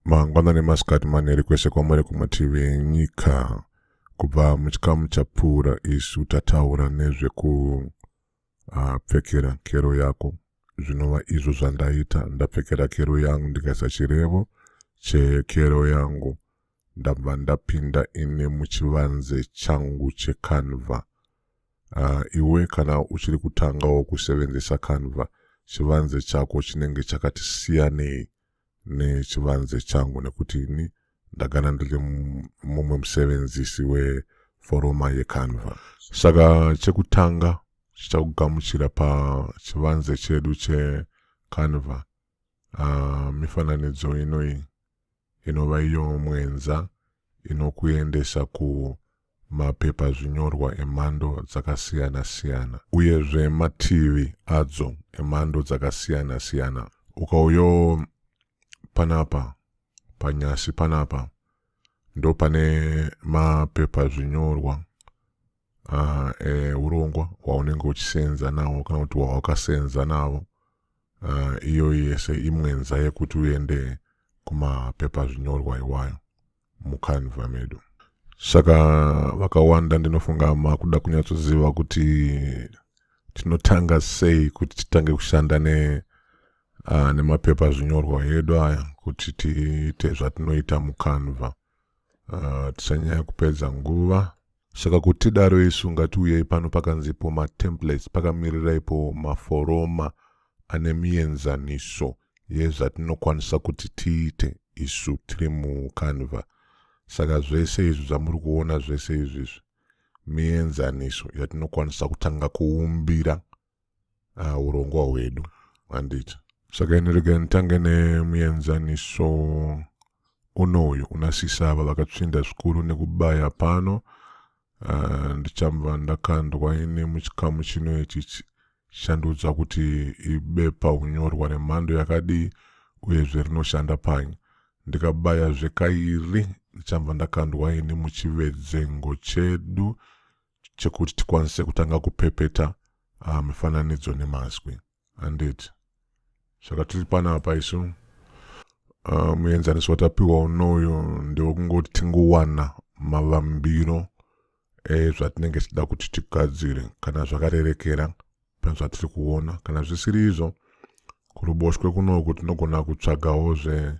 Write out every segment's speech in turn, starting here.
mangwana nemasikati manheri kwese kwamuri kumativi enyika kubva muchikamu chapfuura isu tataura nezvekupfekera ah, uh, kero yako zvinova izvo zvandaita ndapfekera kero yangu ndikaisa chirevo chekero yangu ndabva ndapinda ini muchivanze changu checanva uh, iwe kana uchiri kutangawo kusevenzesa canva chivanze chako chinenge chakati siyanei nechivanze changu nekuti ini ndagana ndiri mumwe musevenzisi weforoma yecanva saka chekutanga chichakugamuchira pachivanze chedu checanva uh, mifananidzo inoi inova iyo mwenza inokuendesa ku mapepa zvinyorwa emhando dzakasiyana siyana uyezve mativi adzo emhando dzakasiyana siyana ukauyo panapa panyasi panapa ndo pane mapepa zvinyorwa aha e, urongwa hwaunenge uchisenza nawo kana kuti hwawakasenza navo uh, iyoyi yese imwenza yekuti uende kumapepa zvinyorwa iwayo mukanva medu saka vakawanda ndinofunga makuda kunyatsoziva kuti tinotanga sei kuti titange kushanda ne uh, nemapepa zvinyorwa edu aya kuti tiite zvatinoita mukanva uh, tisanyanya kupedza nguva saka kuti tidaro isu ngatiuyei pano pakanzipo matemplates pakamirirapo maforoma ane mienzaniso yezvatinokwanisa kuti tiite isu tiri mucanva saka zvese izvi zvamuri kuona zvese izvizvi mienzaniso yatinokwanisa kutanga kuumbira ah, urongwa hwedu handiti saka inoregai nditange nemuenzaniso unouyu una sisava vakatsvinda zvikuru nekubaya pano ah, ndichamva ndakandwa ini muchikamu chino ichi shandudzwa kuti ibepa unyorwa nemhando yakadii uyezve rinoshanda panyi ndikabaya zvekairi ndichamva ndakandwa ini muchivedzengo chedu chekuti tikwanise kutanga kupepeta uh, mifananidzo nemazwi handiti saka tiri panapa isu uh, ah, muenzaniso watapiwa unoyo ndewekungoti tingowana mavambiro ezvatinenge eh, tichida kuti tigadzire kana zvakarerekera pane zvatiri kuona kana zvisiri izvo kuruboshwe kunoku tinogona kutsvagawo zve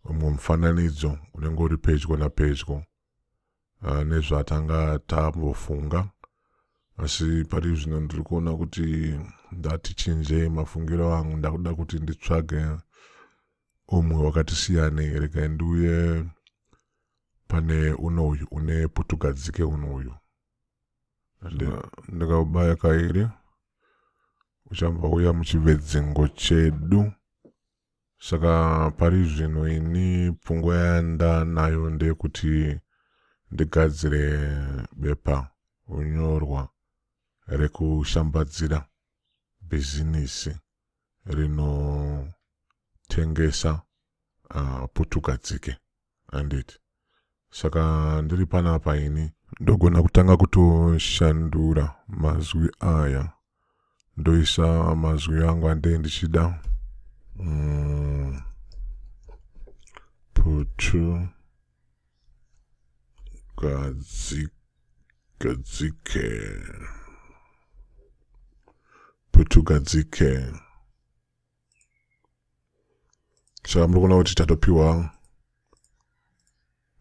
umwe mufananidzo unenge uri pedyo napedyo eh, nezvatanga tambofunga asi pari zvino ndiri kuona kuti ndati chinjei mafungiro angu ndakuda kuti nditsvage umwe wakati siyanei regai ndiuye pane uno uyu une putugadzike uno uyu ndikaubaya kairi uchambouya muchivedzingo chedu Saka pari zvino ini pfungwa yandanayo ndeyekuti ndigadzire bepa unyorwa rekushambadzira bhizinisi rinotengesa uh, putugadzike. handiti saka ndiri panapa ini ndogona kutanga kutoshandura mazwi aya ndoisa mazwi angu andei ndichida mm. putu gadzike putu gadzike saka muri kuona kuti tatopiwa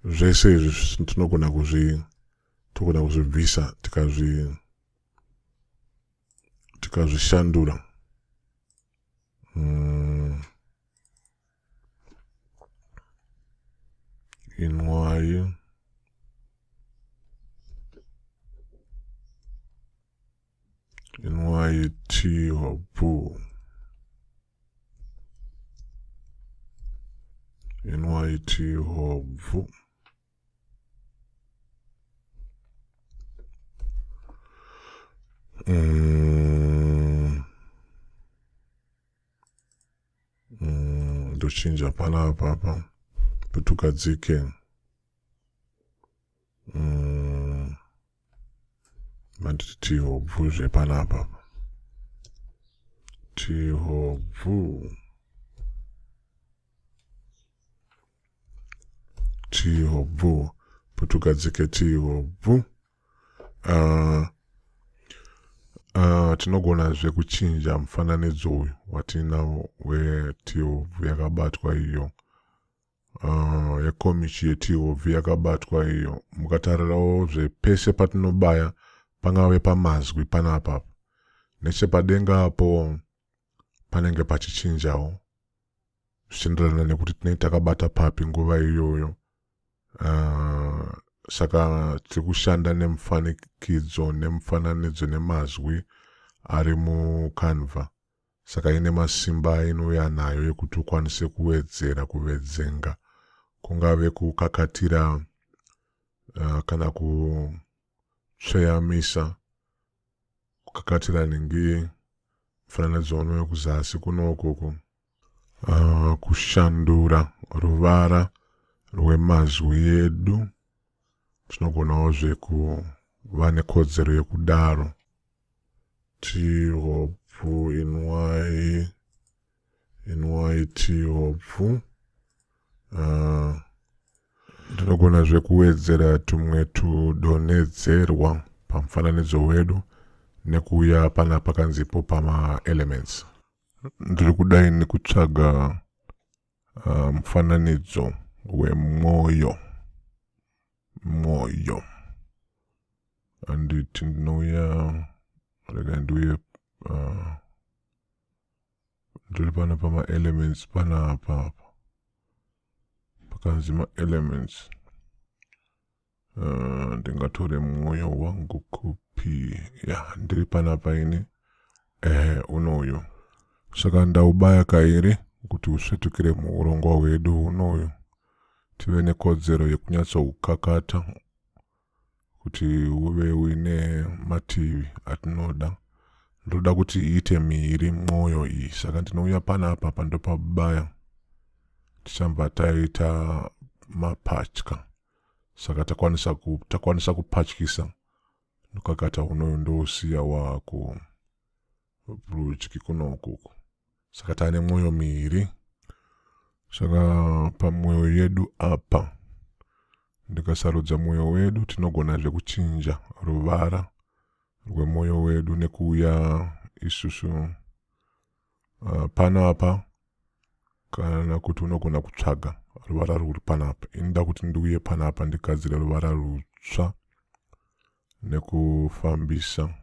zvese izvi tinogona kuzvi togona kuzvibvisa tikazvi tikazvishandura mm. inwayi mm. nyt hoboo nyt hobvu mm. mm. ndochinja pana apapa kuti ukadzike mm, matiti hobvu zvepanapa tihobvu tihobvu putugadzike tihobvu uh, uh, tinogonazve kuchinja mufananidzo uyu watiinawo wetihobvu yakabatwa iyo uh, yekomichi yetihobvi yakabatwa iyo mukatarirawo zvepese patinobaya pangave pamazwi panapa nechepadenga apo panenge pachichinjawo zvichienderana nekuti tinenge takabata papi nguva iyoyo uh, saka tiri kushanda nemufanikidzo nemufananidzo nemazwi ari mucanva Saka ine masimba ainouya nayo ekuti ukwanise kuwedzera kuvedzenga kungave kukakatira uh, kana kutsveyamisa kukakatira ningi mufananidzo uno wekuzasi kuno ukoko uh, kushandura ruvara rwemazwi edu tinogonawo zvekuva nekodzero yekudaro tihopfu inwai inwai tihopfu uh, tinogona zvekuwedzera tumwe tudonhedzerwa pamufananidzo wedu nekuuya pana pakanzipo pamaelements ndiri kudai nekutsvaga Ah, mufananidzo um, wemwoyo mwoyo anditi ndinouya rega ndiuye uh, ndiri pana pamaelements pana apa apa pakanzi maelements Uh, ndingatore mwoyo wangu kupi ya ndiri pana paini ehe unoyu saka ndaubaya kairi kuti usvetukire muurongwa hwedu unoyu tive nekodzero yekunyatsoukakata kuti uve uine mativi atinoda ndoda kuti iite miiri mwoyo iyi saka ndinouya pana apa pandopabaya tichamba taita mapatya saka takwanisa ku, takwanisa kupatyisa ndokakata unoyo ndousiya wako rudyi kunokuku saka taane mwoyo miiri saka pamwoyo yedu apa ndikasarudza mwoyo wedu tinogona zvekuchinja ruvara rwemwoyo wedu nekuuya isusu uh, pano apa kana kuti unogona kutsvaga ruvara rwuri panapa inoda kuti ndiuye panapa ndigadzire ruvara rutsva nekufambisa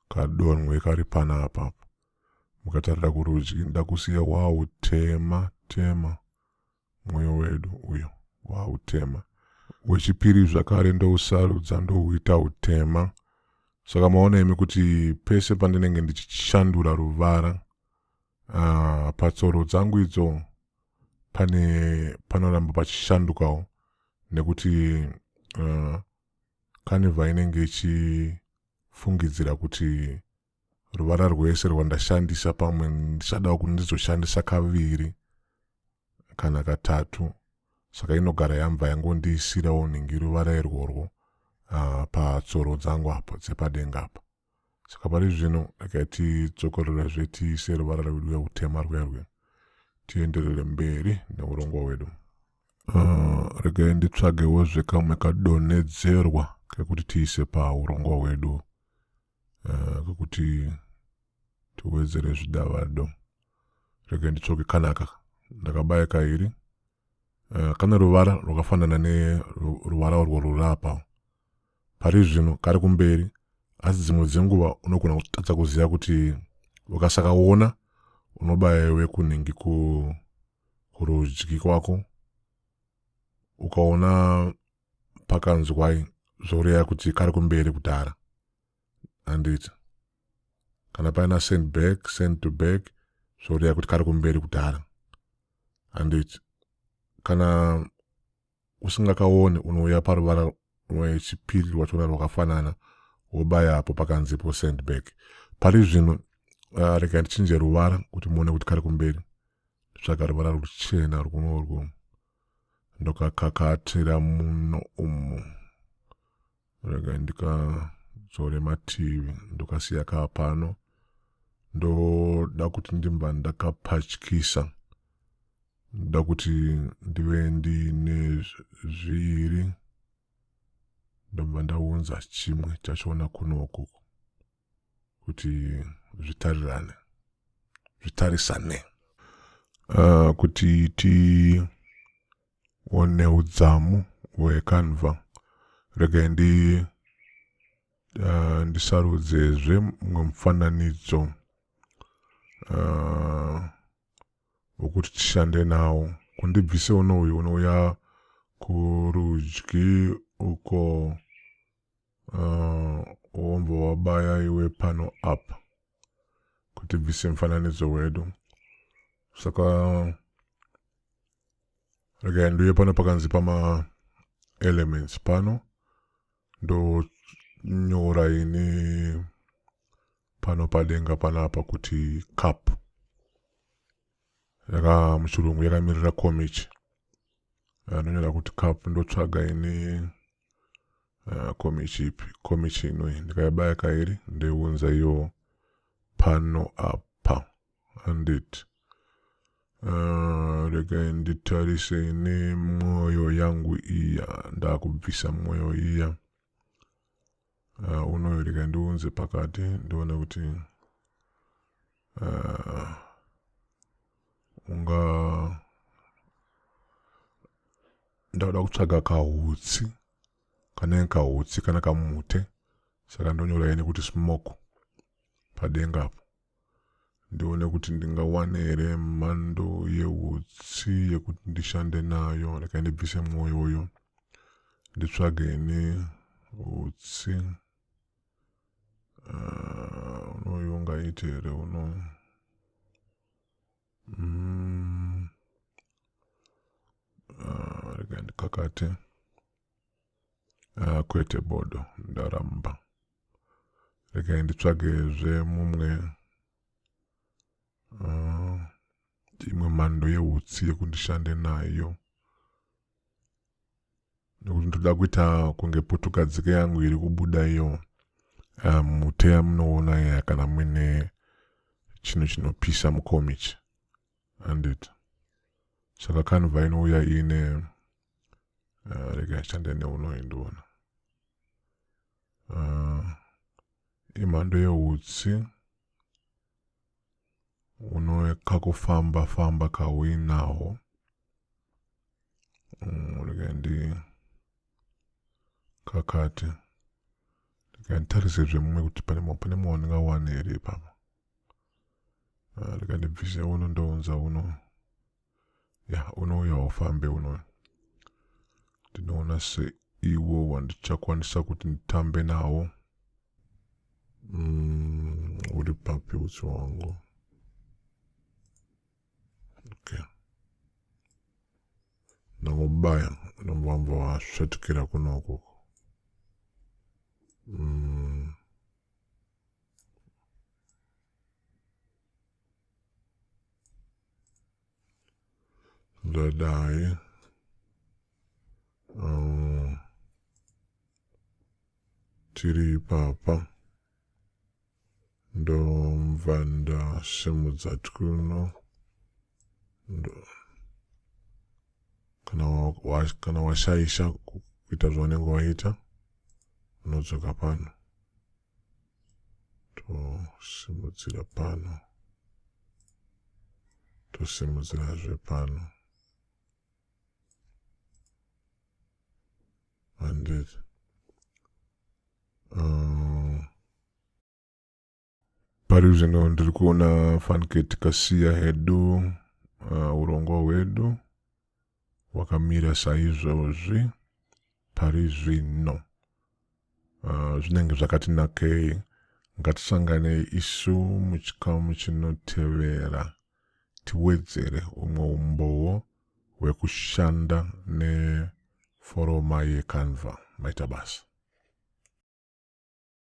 kadonwe kari panapa mukatarira kurudyi ndakusiya wautema tema, tema mwoyo wedu uyo wautema wechipiri zvakare ndousarudza ndouita utema saka maona imi kuti pese pandinenge ndichishandura ruvara uh, patsoro dzangu idzo pane panoramba pachishandukawo nekuti uh, kanivha inenge ichifungidzira kuti ruvara rwese rwandashandisa pamwe ndichadawo kuti ndizoshandisa kaviri kana katatu saka inogara yambva yangondiisirawo nhingi ruvara irworwo uh, patsoro dzangu apo dzepadenga apa saka pari zvino regai tidzokorera zve tiise ruvara rwedu rweutema rwuya rwuya tienderere mberi neurongwa hwedu uh, regai nditsvagewo zvekamwe kadonhedzerwa kekuti tiise paurongwa hwedu uh, kuti tiwedzere zvidavado rege nditsvoke kanaka ndakabaya kairi uh, kane ruvara rwakafanana neruvara urwo rurapa pari zvino kari kumberi asi dzimwe dzenguva unogona kutadza kuziva kuti ukasakaona unobaya iwe kunhingi kurudyi kwako ukaona pakanzwai zvoreva kuti kari kumberi kudhara handiti kana paina send back send to back zvoreva kuti kari kumberi kudhara handiti kana usingakaone unouya paruvara rwechipiri rwachona rwakafanana wobaya apo pakanzipo send back pari zvino uh, rega ndichinje ruvara kuti muone kuti kari kumberi tsvaga ruvara ruchena rwunorwo ndokakakatira muno umu rega ndikadzore mativi ndokasiya kaa pano ndoda kuti ndimba ndakapatyisa ndoda kuti ndive ndiine zviiri ndomba ndaunza chimwe chachoona kunoku kuti zvitarirane zvitarisane uh, kuti tione udzamu hwekanva regai ndi uh, ndisarudzezve mumwe mufananidzo uh, wokuti uh, tishande nawo kundibvise unouyu unouya kurudyi uko Uh, wombo wabaya iwe pano apa kuti bvise mufananidzo wedu saka regai nduye pano pakanzi pama elements pano ndonyora ini pano padenga panapa kuti cup yaka muchirungu yakamirira komichi anonyora kuti cup ndotsvaga ini Ah, komi chipi komi chino ndikayabaya kairi ndeiunza iyo pano apa handiti ah, regai nditarise ine mwoyo yangu iya ndakubvisa mwoyo iya Uh, unoyo rega ndiunze pakati ndione kuti uh, unga ndauda kutsvaga kahutsi kanenge kahutsi kana kamute saka ndonyora ine kuti smoke padenga apo ndione kuti ndingawane here mhando yeutsi yekuti ndishande nayo rekai ndibvise mwoyo uyo nditsvage ini utsi ah, unoyu ungaiti here uno mm. ah, rekai ndikakate ah, kwete bodo ndaramba regai nditsvagezve mumwe uh, imwe mhando yehutsi yekundishande nayo nekuti ndoda kuita kunge putugadzike yangu iri kubuda iyo ah, muteya um, munoona ya kana muine chinhu chinopisa mukomichi handiti saka kanva inouya iine uh, rega ishande neuno indiona uh, imhando yeutsi une kakufamba famba kauinaho mm, rega ndi kakati rega nditarise zvemumwe kuti pane mumwe wandingawane here ipapa ah, rega ndibvise uno ndounza uno ya unouya ufambe uno ndinoona seiwo wandichakwanisa kuti nditambe nawo mm, uri papi utsi wangu okay ndangobaya ndambamba wasvetukira kuno ukoko mm. ndadai um, tiri ipapa ndomva ndasimudza twuno ndo kana wa, kana washaisha kuita zvaunenge waita unodzoka pano tosimudzira pano tosimudzirazve pano handed uh, pari zvino ndiri kuona fanike tikasiya hedu uh, urongwa hwedu wakamira saizvozvi pari zvino uh, zvinenge zvakati nakei ngatisangane isu muchikamu chinotevera tiwedzere umwe umbowo hwekushanda neforoma yecanva maita basa